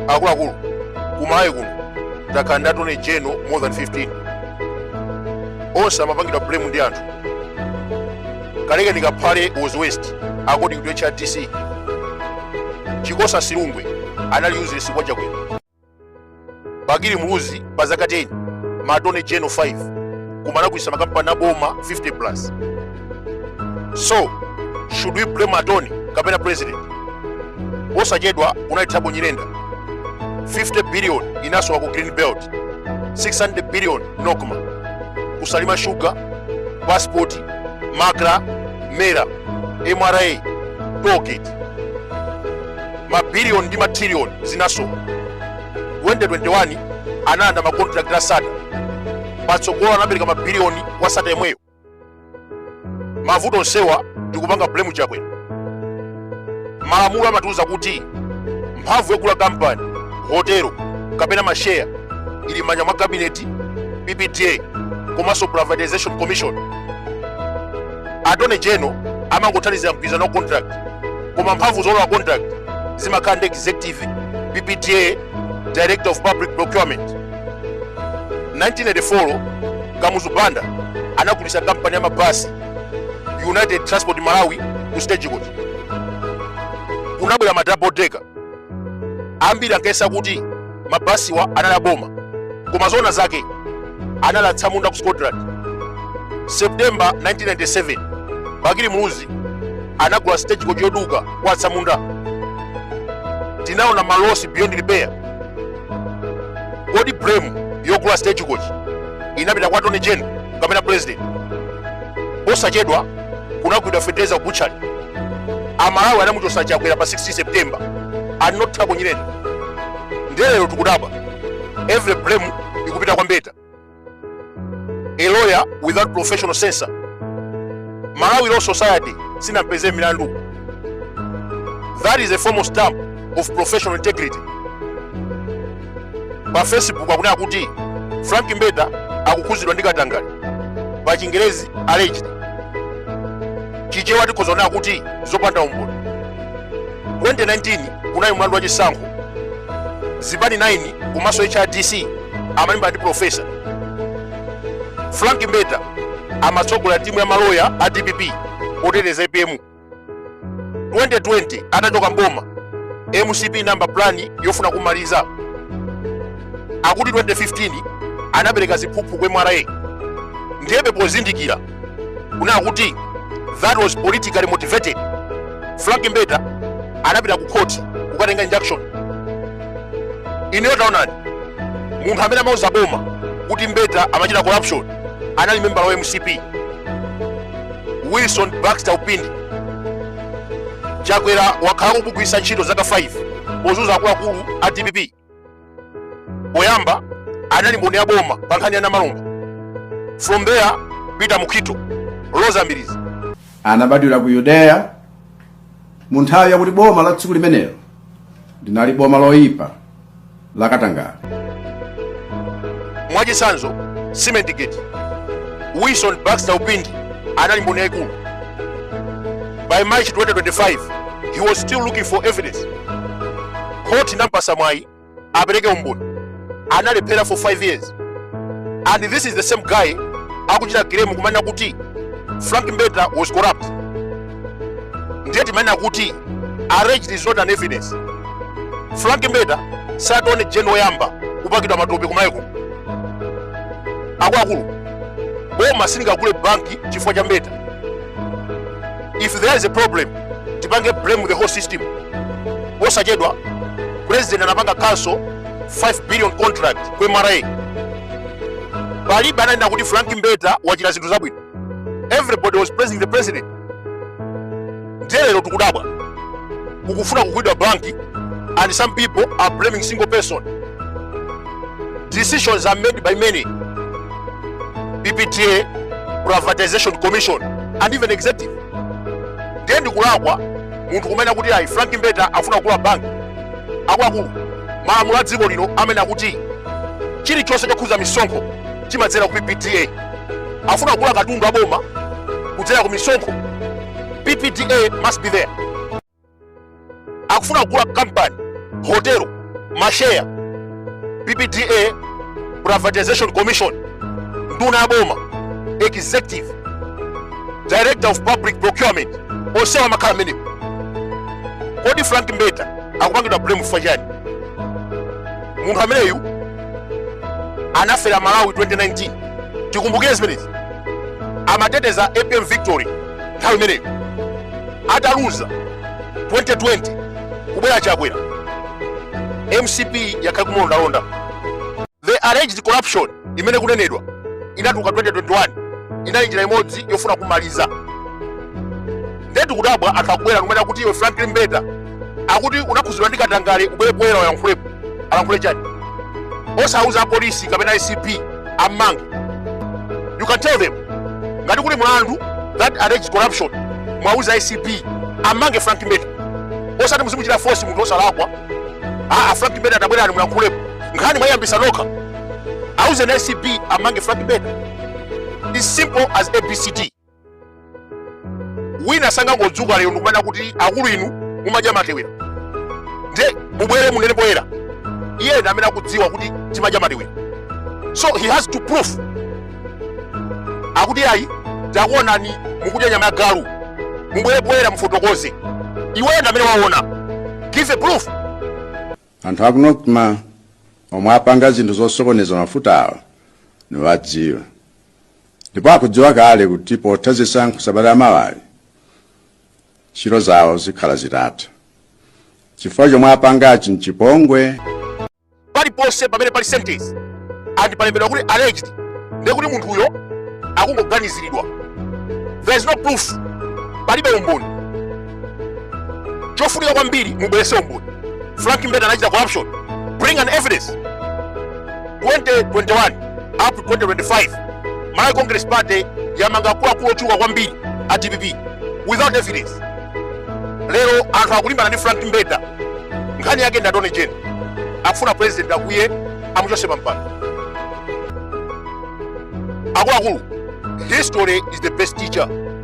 akuluakulu kumalawi kuno takhala ndi attorney general more than 15 onse amapangidwa blame ndi anthu kalekeni kaphale was waste according to hrdc chikosa silungwe anali useless kwa chakwera bakili muluzi pa zaka 10 ma attorney general 5 koma anagulisa makampani aboma 50 plus so should we blame attorney kapena president posachedwa kunali thabo nyirenda 50 billion inasowa ku green belt 600 billion nocma ku salima sugar pasipoti macra mera mra tollgate mabiliyoni ndi mathiliyoni zinasowa 2021 analanda makontrakt a sattar patsogolo anapereka mabiliyoni kwa sattar yemweyo mavuto onsewa ndikupanga blame chakwera malamulo amatiuza kuti mphamvu yogula kampani hotelo kapena masheya ili m'manja mwa kabineti ppda komanso privatization commission attorney general amangothandizira mgwirizano wa contract koma mphamvu zolowa contract zimakhala ndi executive ppda director of public procurement 1984 kamuzu banda anagulitsa kampani ya mabasi united transport malawi ku stagecoach kunabwera ma double decker ambiri ankayesa kuti mabasiwa anali aboma koma zoona zake anali atsamunda ku scotland september 1997 bakili muluzi anagula stagecoach yoduka kwa atsamunda tinaona malosi beyond repair kodi blame yogula stagecoach inapita kwa attorney general kapena president posachedwa kunagulidwa fetereza ku butchery amalawi anamuchosa chakwera pa 16 september and not thabo nyirenda ndiye lero tikudabwa every blame ikupita kwa mbeta a lawyer without professional censure malawi law society sinampeze milandu that is a formal stamp of professional integrity pa facebook akunena kuti frank mbeta akukhuzidwa ndi katangale pa chingerezi alleged chichewa tikhoza kunena kuti zopanda umboni 2019 kunali mlandu wa chisankho zipani 9 komanso hrdc amalimbana ndi profesa frank mbeta amatsogola timu ya maloya a dpp poteteza apm 2020 atachoka mboma mcp ndi ma plan yofuna kumaliza akuti 2015 anapereka ziphuphu ku mra ndiyebe pozindikira kunena kuti that was politically motivated frank mbeta anapita ku court kukatenga injunction ineyo taonani munthu amene amauza boma kuti mbeta amachita corruption anali membala wa mcp wilson baxter upindi chakwera wakhala akumugwiritsa ntchito zaka 5 pozunza akuluakulu a dpp poyamba anali mboni ya boma pa nkhani ya namalomba from there peter mukhito roza mbilizi anabadwira ku yudeya mu nthawi yakuti boma la dziko limenelo linali boma loyipa la katangale mwachitsanzo cement gate wilson baxter upindi anali mboni yaikulu by march 2025 he was still looking for evidence khoti inampasa mwayi apereke umboni analephera for 5 years and this is the same guy akuchita claim kumanena kuti frank mbeta was corrupt ndiye timanena kuti alleged is not an evidence frank mbeta si attorney general woyamba kupakidwa matope kumayiko akuluakulu boma silingagule banki chifukwa cha mbeta if there is a problem tipange blame the whole system posachedwa president anapanga cancel 5 billion contract ku mra palibe ananena kuti frank mbeta wachita zinthu zabwino everybody was praising the president ndiye lero tikudabwa kukufuna kugulidwa banki and some people are blaming single person decisions are made by many ppda privatization commission and even executive ndiye ndikulakwa munthu kumanena kuti ayi frank mbeta afuna kugula banki akuluakulu malamulo a dziko lino amanena kuti chilichonse chokhuza misonkho chimadzera ku ppda afuna kugula katundu wa boma kudzera ku misonkho ppda must be there akufuna kugula kampani hotelo masheya ppda privatization commission nduna ya boma executive director of public procurement onsewa amakhala mmenemo kodi frank mbeta akupangidwa blame chifukwa chani munthu ameneyu anafera malawi 2019 tikumbukire zimenezi amateteza apm victory nthawi imeneyo ataluza 2020 kubwera chakwera mcp yakhala kumulondalonda the alleged corruption imene kunenedwa inatuka 2021 inali njira imodzi yofuna kumaliza ndetu kudabwa anthu akubwera kumene akuti iwe franklin mbeta akuti unakhuzidwa ndi katangale ubwere poyera uyankhulepo alankhule chani osauza apolisi kapena acb ammange you can tell them ngati kuli mlandu that alleged corruption mwauza acb ammange frank mbeta osati muzimuchitira force munthu osalakwa aa frank mbeta tabwerani muyankhulepo nkhani mwaiyambisa nokha auzeni acb amange frank mbeta is simple as abcd wina sangangodzuka lero ndikumanena kuti akulu inu mumadya matewera nde mubwere munene poyera iye ndi amene akudziwa kuti timadya matewera so he has to prove akuti ayi takuonani mukudya nyama ya galu mubwere poyera mufotokoze iweyo ndi amene waona give a proof anthu aku nocma omwe apanga zinthu zosokoneza mafutawa niwadziwa ndipo akudziwa kale kuti potha zisankho sabata la mawali ntchito zawo zikhala zitatha chifukwa chomwe apangachi mchipongwe paliponse pamene pali sentence ndipo palembedwa kuti alleged ndiye kuti munthuyo akungoganiziridwa there is no proof palibe umboni chofunika kwambiri mubwerese umboni frank mbeta anachita corruption bring an evidence 2021 up to 2025 malawi congress party yamanga akuluakulu ochuluka kwambiri a dpp without evidence lero anthu akulimbana ndi frank mbeta nkhani yake ndi attorney general akufuna president akuti amuchose pampando akuluakulu history is the best teacher